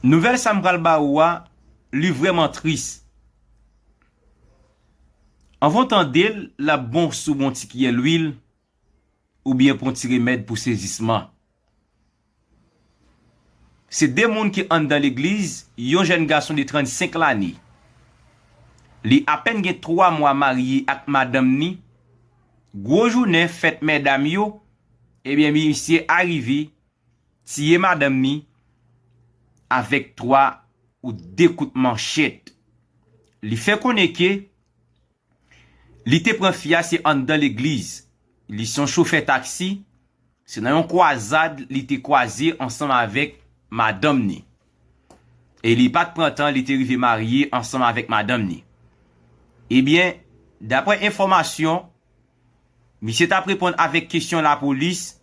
Nouvèl sa m pral ba ou a li vrèman tris. Anvan w tande l, l ap bon si w bon ti kiyè lwil oubyen pran ti remèd pou sezisman. Se 2 moun ki anndan legliz, yon jèn gason de 35 lane. Li apèn gen 3 mwa marye ak madanm ni, gwo jounen fèt mèdam yo, ebyen misye arive tiye madanm ni avèk 3 ou 2 kout manchèt. Li fè konnen ke li te pran fi a se anndan legliz. Li se yon chofè taksi, se nan yon kwazad li te kwaze ansanm avèk madanm ni. E li pat pran tan li te rive marye ansanm avèk madanm ni. Ebyen, daprè enfòmasyon. Misye t ap reponn avèk kesyon lapolis,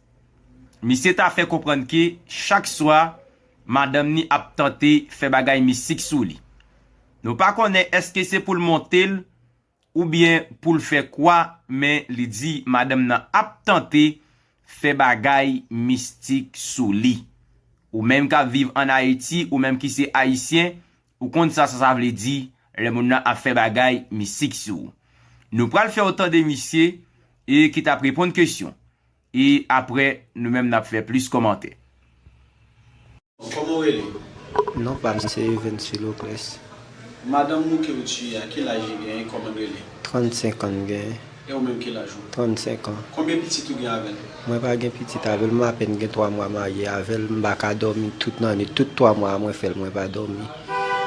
misye ta fè konprann ke chak swa madanm ni ap tante fè bagay mistik sou li. Nou pa konnen èske se pou l monte l oubyen pou l fè kwa men li di madanm nan ap tante fè bagay mistik sou li. Ou menm k ap viv an Ayiti, ou menm ki se Ayisyen, Ou konn sa sa vle di lè moun nan ap fè bagay mistik sou ou. Nou pral fè w tande misye e ki tap reponn kesyon e aprè nou menm nap fè plis kòmantè. Koman ou rele? Non pam se Evens Philocles. Madanm ou ke ou tiye a ki laj li genyen e koman l rele? 35 an l genyen. E ou menm kilaj ou? 35 ans. Konbyen pitit ou gen avèl? Mwen pa gen pitit avèl, mwen apèn gen 3 mwa marye avèl, m pa ka dòmi tout nan nwit, tout 3 mwa a mwen fèl mwen pa dòmi.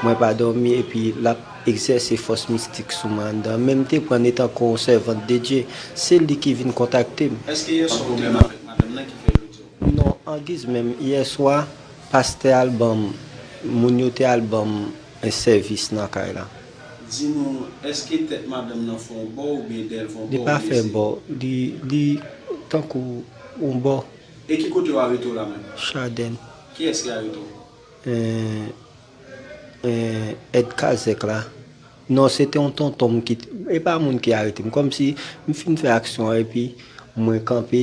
Mwen pa dòmi epi lap egzèse fòs mistik sou mwen anndan, menm te prann etan ko yon sèvant de Dye, se li ki vin kontakte m. Eske yè swa ou te avèk madanm nan ki fè yo diw? Non, angiz menm, yè swa pastè al banm, moun yo te al banm sèvis nan kay la. Di nou eske tèt madanm nan fè w bò oubyen dèl fè w bò Li pa fè bò li li tankou yon bò. E ki kote w arete w la menm? Chadèn. Kiyès ki arete w? Eeh èd kazèk la. Non se te yon tonton m ki e pa moun ki arete m kòmsi m fin fè aksyon an epi mwen kanpe.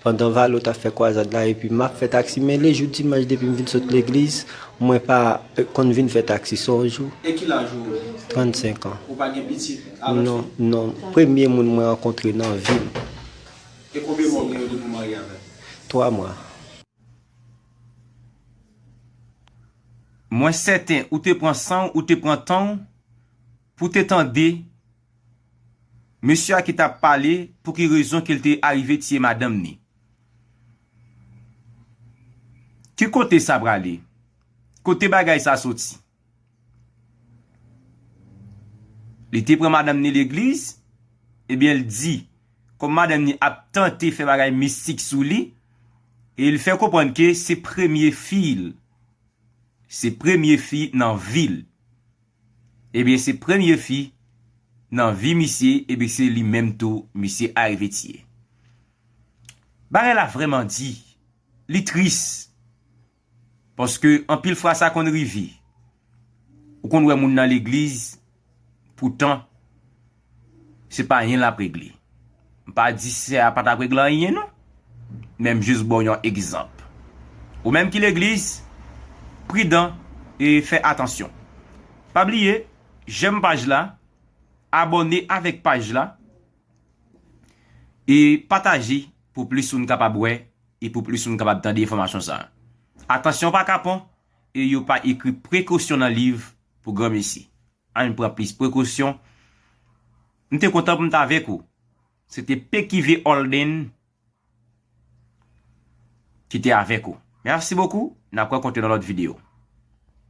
Pandan Valo tap fè kwazad la epi map fè taksi mele jou dimanch depim vin sot legliz mwen pa konn vin fè taksi son jou E ki laj ou? 35 ans. Ou pa gen pitit a lòt fi? Non non premye moun mwen rankontre nan vim. E konbyen mwa ou gen yo depi ou marye avèl? 3 mwa. Mwen sèten ou te pran sanw ou te pran tanw pou te tande Mesye a ki tap pale pou ki rezon ke l te arive tiye madanm ni. Ki kote sa prale? Kote bagay sa soti? Li te pran madanm ni legliz, ebyen l di kom madanm ni ap tante fè bagay mistik sou li, e l fè konprann ke se premye fi l. Se premye fi nan vi l. Ebyen se premye fi nan vi misye ebyen se li menm tou misye arive tiye. Bagay la vreman di, li tris paske anpil fwa sa konn rive ou konn wè moun nan legliz poutan Se pa anyen lap regle. M pa di sè a pa tap regle anyen non. Men m jis ba w yon egzanp. Ou menm ki legliz, pridan e fè atansyon. Pa bliye jèm paj la, abòne avèk paj la e pataje pou plis moun kapab wè e pou plis moun kapab tande enfòmasyon sa. Atansyon pa kapon e yo pa ekri prekosyon nan liv pou granmesi. Ann pran plis prekosyon. M te kontan pou m t avèk ou. Se te Pekive Holden ki te avèk ou. Merci beaucoup. N ap rankontre nan lòt videyo.